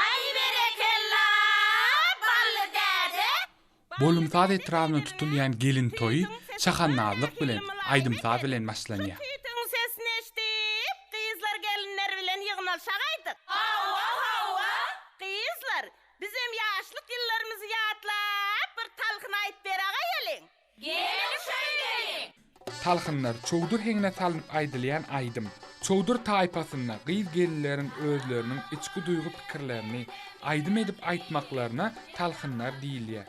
Aý berekella Bally däde. Bolumsaz etrabynda tutulýan gelin toýy şahannazlyk bilen, aýdym-saz bilen başlanýar. Hitiň sesini eşdip, gyzlar-gelinler bilen ýygnalşagaýdyk. Hawa, hawa, gyzlar, Bizem ýaşlyk ýyllarymyzy ýatlap bir talhyn aýt beraga geliň. Geliň şeýdeliň. Talhynlar, çowdur heňine salnyp aýdylýan aýdym. Çowdur taýpasynda gyz-gelinleriň özleriniň içki duýgy-pikirlerini aýdym edip aýtmaklaryna talhynlar diýilýär.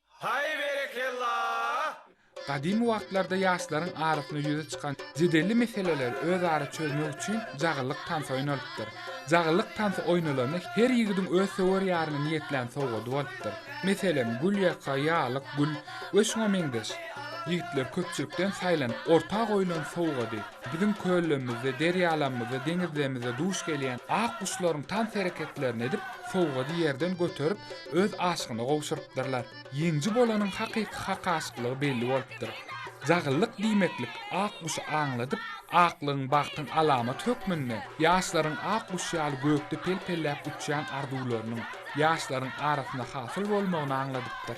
Haý berekella! Gadymy wagtlarda ýaşlaryň arasynda ýüze çykan jedelli meseleleri özara çözmek üçin jagyllyk tansy oýnalypdyr. Jagyllyk tansy oýnalanda her ýigidiň öz söwer ýaryna niýetlän sowgady bolupdyr. Meselem, gül ýaka, ýalyk gül we şuňa meňzeş. Ýigitler köpçülikden saýlanyp orta goýlan sowgady, biziň köllerimizde, derýalarymyzda, deňizlerimizde duş gelýän ak guşlaryň tans hereketlerini edip, sowgady ýerden göterip, öz aşygyna gowşurypdyrlar. Ýeňji bolanyň hakyky hak aşyklygy belli bolupdyr. Jagyllyk diýmeklik ak guşy aňladyp, aklygyň bagtyň alamaty hökmünde ýaşlaryň ak guş ýaly gökde pel-pelläp uçýan arzuwlarynyň ýaşlaryň arasynda hasyl bolmagyny aňladypdyr.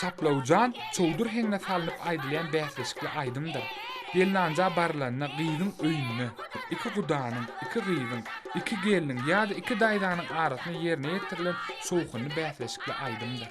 Şaplawjan çowdur heňine salnyp aýdylýan bäsleşikli aýdymdyr. Gelnanja barylanda gyzyň öýünde, iki gudanyň, iki gyzyň, iki gelniň ýa-da iki daýzanyň arasynda ýerine ýetirilen şowhunly bäsleşikli aýdymdyr.